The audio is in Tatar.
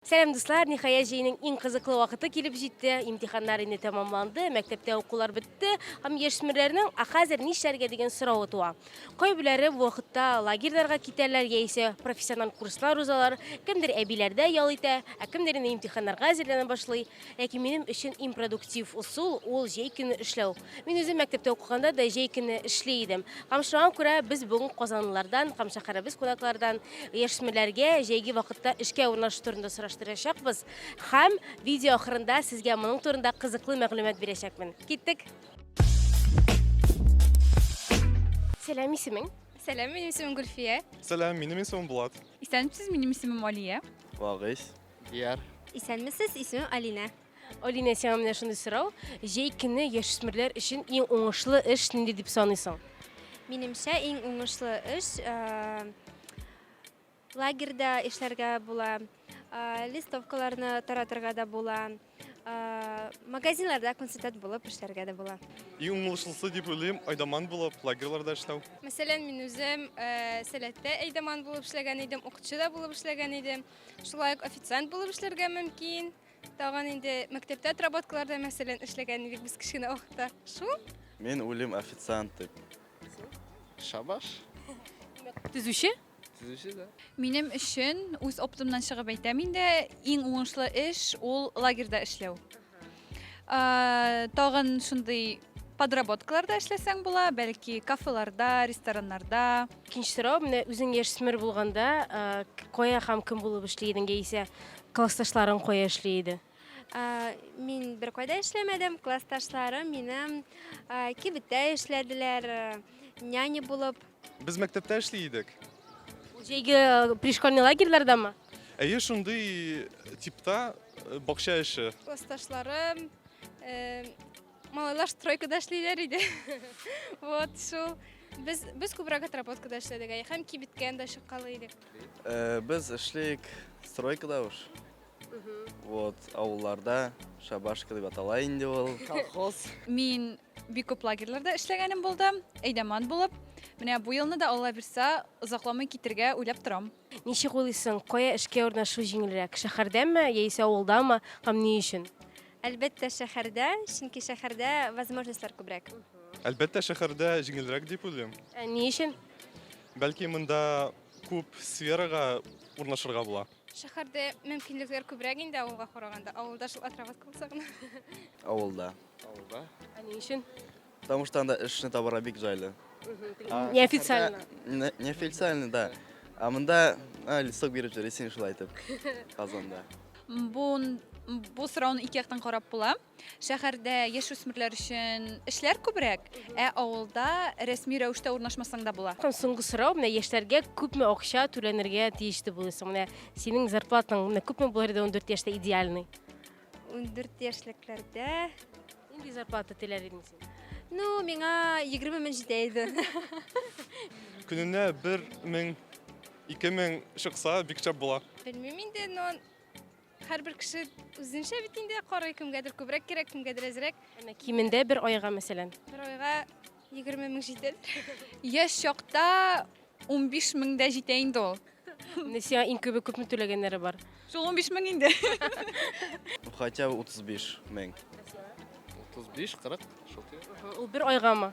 Сәлам дуслар, ниһаять җәйнең иң кызыклы вакыты килеп җитте. Имтиханнар инде тәмамланды, мәктәптә укулар бетте. Һәм яшьсмерләрнең, а хәзер нишләргә дигән соравы туа. Кайбеләре бу вакытта лагерьларга китәрләр яисә профессиональ курслар узалар, кемдер әбиләрдә ял итә, ә кемдер инде имтиханнарга әзерләнә башлый. Ләкин минем өчен иң продуктив усул ул җәй көне эшләү. Мин үзем мәктәптә укыганда да җәй көне эшли идем. Камшыма күрә без бүген казанлылардан һәм шәһәребез кунаклардан яшьсмерләргә җәйге вакытта эшкә урнашу турында сораштырачакбыз һәм видео ахырында сезгә моның турында кызыклы мәгълүмат бирәчәкмен. Киттек! Сәлам, исемең? Сәлам, минем исемем Гөлфия. Сәлам, минем исемем Булат. Исәнмесез, минем исемем Алия. Вагыйз. Дияр. Исәнмесез, исемем Алинә. Алинә, сиңа менә шундый сорау. Җәй көне яшүсмерләр өчен иң уңышлы эш нинди дип саныйсың? Минемчә, иң уңышлы эш э, лагерьда эшләргә була, э, листовкаларны таратырга да була. Магазинларда консультант булып эшләргә дә була. Иң уңышлысы дип уйлыйм, айдаман булып лагерьларда эшләү. Мәсәлән, мин үзем э, сәләттә айдаман булып эшләгән идем, укытучы да булып эшләгән идем. Шулай ук официант булып эшләргә мөмкин. Тагын инде мәктәптә отработкаларда, мәсәлән, эшләгән идек без кечкенә вакытта. Шул. Мин үлем официант дип. Шабаш. Төзүче? Төзүче дә. Минем өчен, үз оптымнан чыгып әйтәм инде, иң уңышлы эш ул лагерьда эшләү. Тагын шундый подработкаларда эшләсәң була, бәлки кафеларда, рестораннарда. Икенче сорау, менә үзең яшьсмер булганда, кая һәм кем булып эшли идең яисә классташларың кая эшли иде? Мин беркайда эшләмәдем, классташларым минем кибеттә эшләделәр, няня булып. Без мәктәптә эшли идек. Җәйге э, пришкольный лагерьлардамы? Әйе, шундый типта э, бакча эше. Классташларым э, малайлар стройкада эшлиләр иде. Вот шул. Без без күбрәк отработкада эшләдек, әй, һәм кибеткә дә чыккалы идек. Э, Без эшлик стройкада уж. Вот, авылларда шабашка дип атала инде ул. Колхоз. Мин бик күп лагерьларда эшләгәнем булды, әйдәман булып. Менә бу елны да Алла бирсә, озакламый китергә уйлап торам. Ничек уйлыйсың, кая эшкә урнашу җиңелрәк, шәһәрдәме яисә авылдамы һәм ни өчен? Әлбәттә, шәһәрдә, чөнки шәһәрдә возможностьлар күбрәк. Әлбәттә, шәһәрдә җиңелрәк дип уйлыйм. Ә ни өчен? Бәлки монда күп сферага урнашырга була. Шәһәрдә мөмкинлекләр күбрәк инде авылга караганда. Авылда шул отработка булса гына. Авылда. Авылда. Ә ни өчен? Потому что анда эшне табарга бик җайлы. А Неофициально. шәһәрдә- Не- Неофициально, да. А монда а, листок биреп җөрисең шулай итеп. Казанда. Бу сорауны ике яктан карап була. Шәһәрдә яшүсмерләр өчен эшләр күбрәк, ә авылда рәсми рәвештә урнашмасаң да була. Соңгы сорау, менә яшьләргә күпме акча түләнергә тиеш дип уйлыйсың? Менә синең зарплатаң менә күпме булыр иде 14 яшьтә идеальный? 14 яшьлекләрдә Нинди зарплата теләр идең син? Ну, миңа 20 мең җитә иде. Көненә бер мең, ике мең чыкса, бик шәп була. Белмим инде, но Һәрбер кеше үзенчә бит инде карый, кемгәдер күбрәк кирәк, кемгәдер әзрәк. Әнә кимендә бер айга, мәсәлән. Бер айга 20 мең җитәдер. Яшь чакта 15 мең дә җитә инде ул. Менә сиңа иң күбе күпме түләгәннәре бар? Шул 15 мең инде. Хотя бы 35 мең. 35-40 шул тирә. Ул бер айгамы?